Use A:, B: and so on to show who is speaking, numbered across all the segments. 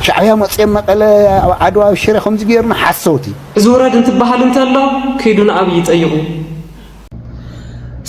A: ሻዕብያ መጽዮም መቀለ ኣብ ዓድዋ ኣብ ሽረ ከምዚ ገይሩና ሓሰውቲ። እዚ ውረድ እንትበሃል
B: እንተሎ ኪዱ ንኣብይ ጠይቁ።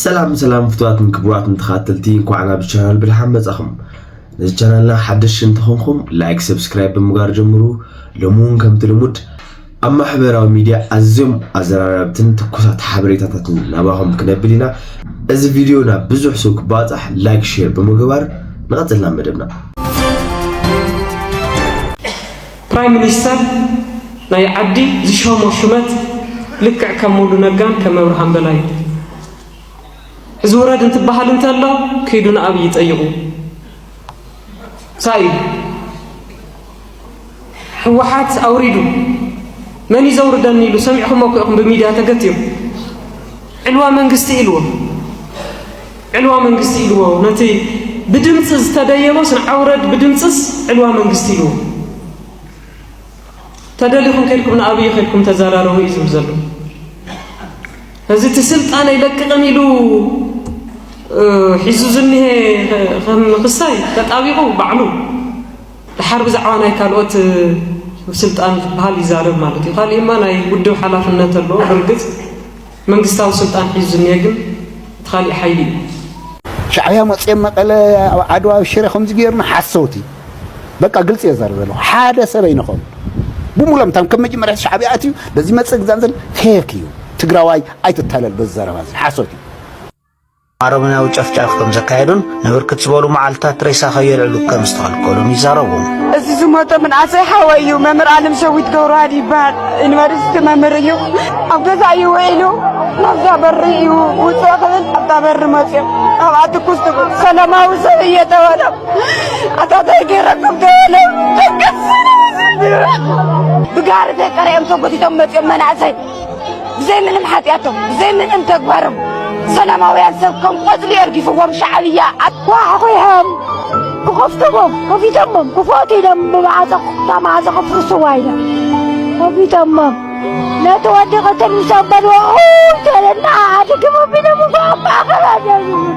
B: ሰላም
C: ሰላም ፍትዋትን ክቡራትን ተኻተልቲ እንኳዕ ናብ ቻናል ብድሓን መጻኹም ነዚ ቻናልና ሓደሽቲ እንተኾንኩም ላይክ ሰብስክራይብ ብምግባር ጀምሩ ሎሚ እውን ከምቲ ልሙድ ኣብ ማሕበራዊ ሚድያ ኣዝዮም ኣዘራረብትን ትኩሳት ሓበሬታታትን ናባኹም ክነብል ኢና። እዚ ቪድዮ ናብ ብዙሕ ሰብ ክባፃሕ ላይክ ሼር ብምግባር ንቐፅል ናብ መደብና።
B: ፕራይም ሚኒስተር ናይ ዓዲ ዝሸሞ ሹመት ልክዕ ከም ሙሉ ነጋን ከም ኣብርሃም በላይን እዩ። እዚ ውረድ እንትበሃል እንተሎ ክይዱ ንኣብይ ጠይቑ ሳይ እዩ። ህወሓት ኣውሪዱ መን እዩ ዘውርደኒ ኢሉ ሰሚዕኹሞ እኮ ኢኹም ብሚድያ ተገትዩ ዕልዋ መንግስቲ ኢልዎ ዕልዋ መንግስቲ ኢልዎ ነቲ ብድምፂ ዝተደየበስ ንዓውረድ ብድምፅስ ዕልዋ መንግስቲ ኢልዎ ተደሊኹም ከድኩም ንኣብይ ከድኩም ተዘራረቡ እዩ ዝብል ዘሎ እዚ እቲ ስልጣን ኣይለቅቕን ኢሉ ሒዙ ዝኒሀ ከም ክሳይ ተጣቢቑ ባዕሉ ደሓር ብዛዕባ ናይ ካልኦት ስልጣን ዝበሃል ይዛረብ ማለት እዩ። ካሊእማ ናይ ውድብ ሓላፍነት ኣለዎ። ብርግፅ መንግስታዊ ስልጣን ሒዙ ዝኒሀ ግን እቲ ካሊእ ሓይሊ እዩ። ሻዕብያ
A: መፅኦም መቐለ ኣብ ዓድዋ ኣብ ሽረ ከምዚ ገይርና ሓሰውቲ በቃ ግልፂ እየ ዛረብ ዘለኹ ሓደ ሰብ ኣይንኸውን ብሙሎም ታም ከም መጀመርያ ሻዕብያ ኣትዩ በዚ መፅእ ግዛን ዘል ፌክ እዩ ትግራዋይ ኣይትታለል በዚ ዘረባ እዚ ሓሶት እዩ
D: ኣረመናዊ ጨፍጫፍ ከም ዘካየዱን ንብርክት ዝበሉ መዓልትታት ሬሳ ከየልዕሉ ከም ዝተኸልከሉን ይዛረቡ። እዚ ዝሞተ
E: ምንኣሰይ ሓወይ እዩ። መምህር ኣለም ሰዊት ገብረዋህድ ይበሃል። ዩኒቨርሲቲ መምህር እዩ። ኣብ ገዛ እዩ ውዒሉ ናብዛ በሪ እዩ ውፅእ ክብል ኣብታ በሪ መፅኦም ኣብኣ ትኩስ ትብል ሰላማዊ ሰብ እየ ተበሎም። ኣታታይ ገይረኩም ተበሎም። ደገስ ብጋሪ ተቀሪኦም ተጎቲቶም መፅኦም መናእሰይ ብዘይ ምንም ሓጢኣቶም ብዘይ ምንም ተግባሮም ሰላማውያን ሰብ ከም ቆፅሊ የርጊፍዎም ሻዕብያ ኣኳሕኺሖም ክኸፍትዎም ከፊቶሞም ክፈቱ ኢሎም ብማዕፀ ክፍታ ማዕፀ ከፍርስዋ ኢሎም ከፊቶሞም ነቲ ወዲ ቅትል ምስ ኣበልዎ ተለና ኣድግሞ ቢሎም እኳ ኣባኸባደሉ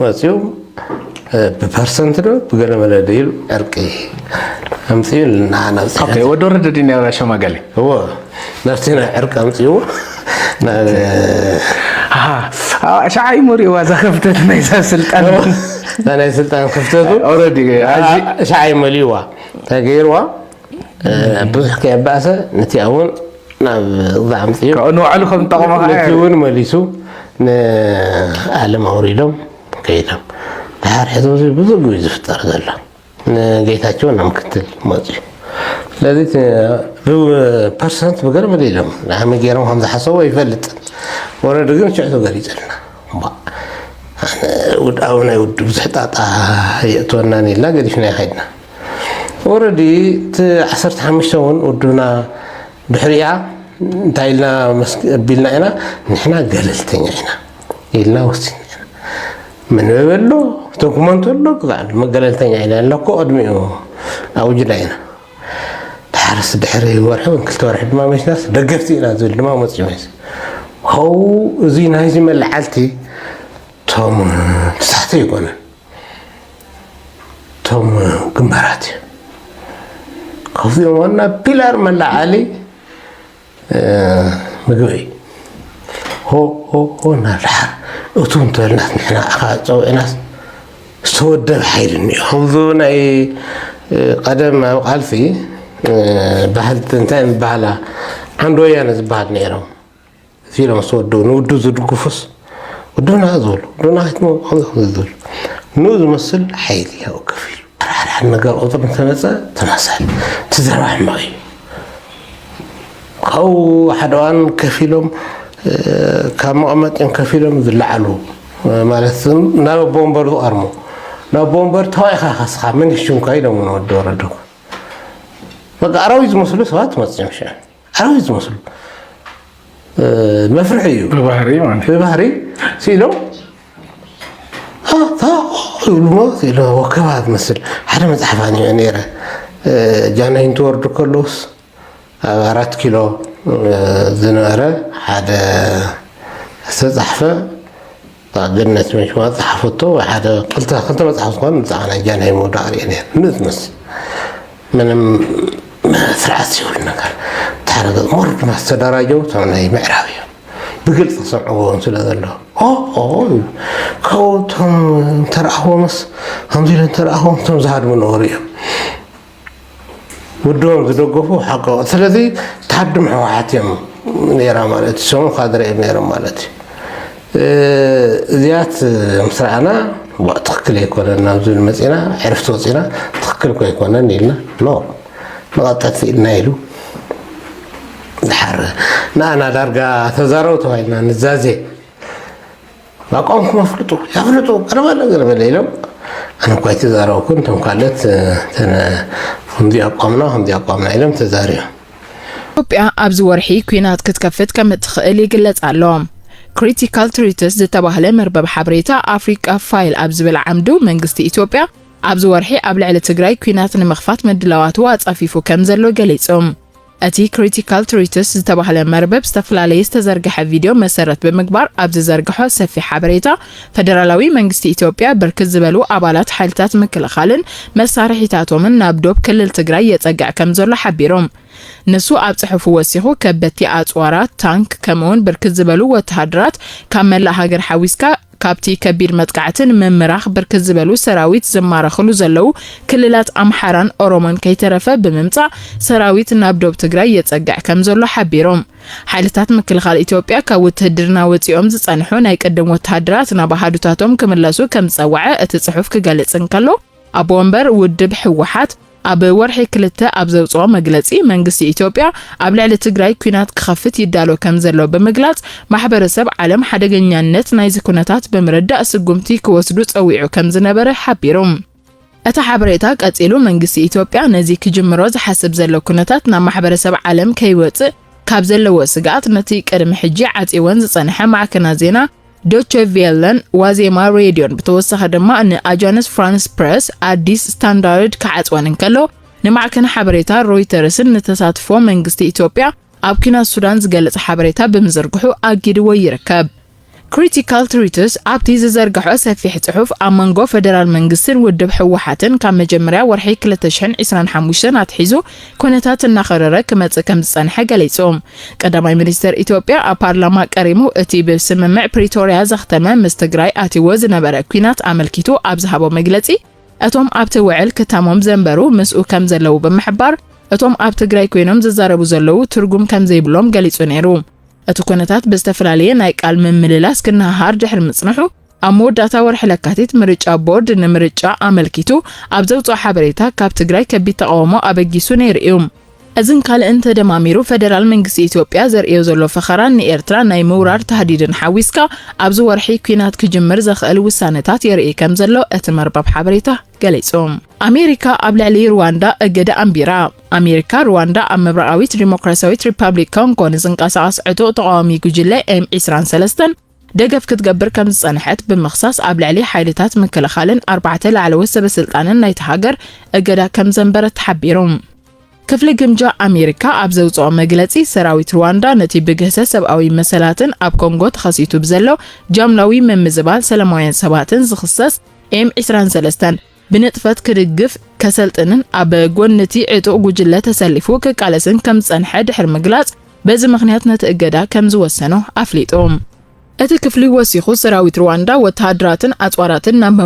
F: መፅኡ ብፐርሰንት ዶ ብገለ መለ ዶ ኢሉ ዕርቂ ኣምፅኡ ንዓና ኦኬ ወዲ ወረደ ድዩ
G: ናይ ሸማጋሊ እዎ
F: ናብቲ ናይ ዕርቂ ኣምፅኡ
G: ሸዓ እዩ መሪእዋ እዛ ክፍተት ናይዛ ስልጣን ናይ
F: ስልጣን ክፍተቱ ሸዓ እዩ መሊእዋ እንታይ ገይርዋ ብዙሕ ከየባእሰ ነቲኣ ውን ናብዛ ኣምፅኡ ካብኡ ንባዕሉ ከም ዝጠቐሞ
G: ከዓ ነቲ ውን መሊሱ
F: ንኣለም ኣውሪዶም ከይዶም ድሓር ሕዚ እዚ ብዙ ግዩ ዝፍጠር ዘሎ ንጌታቸው ናብ ምክትል መፅኡ ስለዚ ብፐርሰንት ብገርበል ኢሎም ንሃመይ ገይሮም ከም ዝሓሰቡ ኣይፈልጥን ወረዲ ግን ሽዑ ተገሊፀልና ውድኣዊ ናይ ውድብ ብዙሕ ጣጣ የእትወናን ኢልና ገዲፍናዮ ከድና ኦረዲ እቲ ዓሰርተ ሓሙሽተ እውን ውድብና ድሕሪኣ እንታይ ኢልና ኣቢልና ኢና ንሕና ገለልተኛ ኢና ኢልና ወሲና መንበቢ ኣሎ ዶክመንት ኣሎ ግዛዕ ኣሎ መገለልተኛ ኢና ኣለኮ ቅድሚኡ ኣውጅና ኢና ድሓርስ ድሕሪ ወርሒ ወይ ክልተ ወርሒ ድማ መሽናስ ደገፍቲ ኢና ዝብል ድማ መፅኡ መስ ኸው እዚ ናይዚ መለዓልቲ እቶም ተሳሕተ ይኮነን እቶም ግንባራት እዮም ካብዚኦም ዋና ፒላር መላዓሊ ምግቢ እዩ ሆ ሆ ሆ እናድሓር እቱ እንተበልናት ንሕና ዓኻ ፀውዒናስ ዝተወደበ ሓይሊ እኒኦ ከምዚ ናይ ቀደም ኣብ ቃልሲ ባህልቲ እንታይ ዝበሃላ ዓንዲ ወያነ ዝበሃል ነይሮም ሲኢሎም ምስ ወድኡ ንውድብ ዝድግፉስ ውድብና ዝበሉ ውድብና ከይትመ ከምዚ ከምዚ ዝብል ንኡ ዝመስል ሓይሊ ይውክፍ እዩ ሓድሓድ ነገር ቁፅሪ እንተመፀ ተመሰል እቲ ዘረባ ሕማቕ እዩ ካብኡ ሓደ እዋን ከፍ ኢሎም ካብ መቐመጢኦም ከፍ ኢሎም ዝለዓሉ ማለት ናብ ኣቦ ወንበር ዝቐርሙ ናብ ኣቦ ወንበር ተዋኢኻ ከስኻ መን ይሽምካ ኢሎም ንወዲ ወረዱ በቃ ኣራዊት ዝመስሉ ሰባት መፅኦም ሽዑ ሓረግ ዝመስሉ መፍርሒ እዩ ብባህሪ ማለት እዩ። ብባህሪ ሲኢሎም ዝብልዎ ሲኢሎ ወከባ ትመስል ሓደ መፅሓፍ ኣንቢዐ ነይረ ጃንሆይ እንትወርዱ ከለውስ ኣብ ኣራት ኪሎ ዝነበረ ሓደ ዝተፃሕፈ እታ ገነት መንሽዋ ዝጸሓፈቶ ወይ ሓደ ክልተ ክልተ መጽሓፍ ዝኾነ ብዛዕባ ናይ ጃንሆይ ምውዳቕ ርእየ ነይረ ምዝምዝ ምንም ስርዓት ዝብል ነገር ተሓረገ ሞር ድማ ዝተደራጀው እቶም ናይ ምዕራብ እዮም ብግልፂ ክሰምዕዎም ስለ ዘሎ ካብኡ እቶም እንተረኣኽዎምስ ከምዚ ኢለ እንተረኣኽዎም እቶም ዝሃድሙ ነበሩ እዮም ውድቦም ዝደገፉ ሓቀ ስለዚ ታድም ሕወሓት እዮም ነራ ማለት እዩ ሰሙ ካድረ እዮም ነሮም ማለት እዩ እዚያት ምስ ረኣና ትክክል ኣይኮነን ናብ ዝብል መፂና ዕርፍቲ ወፂና ትክክል ኮ ኣይኮነን ኢልና ኖ ንቐጠት ኢልና ኢሉ ዝሓረ ንኣና ዳርጋ ተዛረቡ ተባሂልና ንዛዜ ኣቋምኩም ኣፍልጡ ያፍልጡ ቀረበለ ገረበለ ኢሎም ኣነ እኳ ኣይተዛረብኩን እቶም ካልኦት ከምዚ ኣቋምና ከምዚ ኣቋምና ኢሎም ተዛሪቦም ኢትዮጵያ
H: ኣብዚ ወርሒ ኲናት ክትከፍት ከም እትኽእል ይግለጽ ኣሎ። ክሪቲካል ትሪትስ ዝተባህለ መርበብ ሓበሬታ ኣፍሪቃ ፋይል ኣብ ዝብል ዓምዱ መንግስቲ ኢትዮጵያ ኣብዚ ወርሒ ኣብ ልዕሊ ትግራይ ኲናት ንምኽፋት ምድላዋቱ ኣጻፊፉ ከም ዘሎ ገሊጹ። እቲ ክሪቲካል ትሪትስ ዝተባህለ መርበብ ዝተፈላለየ ዝተዘርግሐ ቪድዮ መሰረት ብምግባር ኣብ ዝዘርግሖ ሰፊሕ ሓበሬታ ፈደራላዊ መንግስቲ ኢትዮጵያ ብርክት ዝበሉ ኣባላት ሓይልታት ምክልኻልን መሳርሒታቶምን ናብ ዶብ ክልል ትግራይ የፀግዕ ከም ዘሎ ሓቢሮም። ንሱ ኣብ ጽሑፉ ወሲኹ ከበድቲ ኣጽዋራት፣ ታንክ ከምኡውን ብርክት ዝበሉ ወተሃደራት ካብ መላእ ሃገር ሓዊስካ ካብቲ ከቢድ መጥቃዕቲ ንምምራኽ ብርክት ዝበሉ ሰራዊት ዝማረኽሉ ዘለዉ ክልላት ኣምሓራን ኦሮሞን ከይተረፈ ብምምጻእ ሰራዊት ናብ ዶብ ትግራይ የጸግዕ ከምዘሎ ሓቢሮም። ሓይልታት ምክልኻል ኢትዮጵያ ካብ ውትህድርና ወጺኦም ዝጸንሑ ናይ ቅድም ወተሃደራት ናብ ኣሃዱታቶም ክምለሱ ከምዝጸወዐ እቲ ጽሑፍ ክገልጽ እንከሎ፣ ኣቦ ወንበር ውድብ ህወሓት ኣብ ወርሒ ክልተ ኣብ ዘውፅኦ መግለፂ መንግስቲ ኢትዮጵያ ኣብ ልዕሊ ትግራይ ኲናት ክኸፍት ይዳሎ ከምዘሎ ብምግላፅ ማሕበረሰብ ዓለም ሓደገኛነት ናይዚ ኩነታት ብምርዳእ ስጉምቲ ክወስዱ ፀዊዑ ከምዝነበረ ሓቢሩ። እቲ ሓበሬታ ቀፂሉ መንግስቲ ኢትዮጵያ ነዚ ክጅምሮ ዝሓስብ ዘሎ ኩነታት ናብ ማሕበረሰብ ዓለም ከይወፅእ ካብ ዘለዎ ስግኣት ነቲ ቅድሚ ሕጂ ዓፅይወን ዝፀንሐ ማዕከናት ዜና ዶቸ ቬለን ዋዜማ ሬድዮን ብተወሳኺ ድማ ንኣጃንስ ፍራንስ ፕረስ ኣዲስ ስታንዳርድ ክዓጽወን እንከሎ ንማዕከን ሓበሬታ ሮይተርስን ንተሳትፎ መንግስቲ ኢትዮጵያ ኣብ ኲናት ሱዳን ዝገልጽ ሓበሬታ ብምዝርግሑ ኣጊድዎ ይርከብ። ክሪቲካል ትሪትስ ኣብቲ ዝዘርግሖ ሰፊሕ ጽሑፍ ኣብ መንጎ ፈደራል መንግስትን ውድብ ህወሓትን ካብ መጀመርያ ወርሒ ክልተ ሽሕን ዒስራን ሓሙሽተን ኣትሒዙ ኩነታት እናኸረረ ክመፅእ ከምዝፀንሐ ገሊፁ። ቀዳማይ ሚኒስትር ኢትዮጵያ ኣብ ፓርላማ ቀሪሙ እቲ ብስምምዕ ፕሪቶርያ ዘኽተመ ምስ ትግራይ ኣትይዎ ዝነበረ ኲናት ኣመልኪቱ ኣብ ዝሃቦ መግለፂ እቶም ኣብቲ ውዕል ክታሞም ዘንበሩ ምስኡ ከምዘለዉ ብምሕባር እቶም ኣብ ትግራይ ኮይኖም ዝዛረቡ ዘለዉ ትርጉም ከምዘይብሎም ገሊፁ ነይሩ። እቲ ኩነታት ብዝተፈላለየ ናይ ቃል ምምልላስ ክነሃሃር ድሕሪ ምፅንሑ ኣብ መወዳእታ ወርሒ ለካቲት ምርጫ ቦርድ ንምርጫ ኣመልኪቱ ኣብ ዘውፅኦ ሓበሬታ ካብ ትግራይ ከቢድ ተቓውሞ ኣበጊሱ ነይሩ እዩ። እዝን ካልእን ተደማሚሩ ፈደራል መንግስቲ ኢትዮጵያ ዘርእዮ ዘሎ ፈኸራን ንኤርትራ ናይ ምውራር ታህዲድን ሓዊስካ ኣብዚ ወርሒ ኲናት ክጅምር ዘኽእል ውሳነታት የርኢ ከም ዘሎ እቲ መርበብ ሓበሬታ ገሊጹ። ኣሜሪካ ኣብ ልዕሊ ሩዋንዳ እገዳ ኣንቢራ። ኣሜሪካ ሩዋንዳ ኣብ ምብራቓዊት ዲሞክራሲያዊት ሪፓብሊክ ኮንጎ ንዝንቀሳቐስ ዕጡቕ ተቓዋሚ ጉጅለ ኤም 23 ደገፍ ክትገብር ከም ዝጸንሐት ብምኽሳስ፣ ኣብ ልዕሊ ሓይልታት ምክልኻልን ኣርባዕተ ላዕለዎት ሰበስልጣንን ናይታ ሃገር እገዳ ከም ዘንበረት ተሓቢሩ። ክፍሊ ግምጃ ኣሜሪካ ኣብ ዘውጽኦ መግለጺ፣ ሰራዊት ሩዋንዳ ነቲ ብግህሰት ሰብኣዊ መሰላትን ኣብ ኮንጎ ተኸሲቱ ብዘሎ ጃምላዊ ምምዝባል ሰለማውያን ሰባትን ዝኽሰስ ኤም ዕስራን ሰለስተን፣ ብንጥፈት ክድግፍ፣ ከሰልጥንን ኣብ ጎኒ'ቲ ዕጡቕ ጉጅለ ተሰሊፉ ክቃለስን ከም ዝጸንሐ ድሕሪ ምግላጽ፣ በዚ ምኽንያት ነቲ እገዳ ከም ዝወሰኖ ኣፍሊጡ። እቲ ክፍሊ ወሲኹ፣ ሰራዊት ርዋንዳ ወተሃደራትን ኣጽዋራትን ናብ።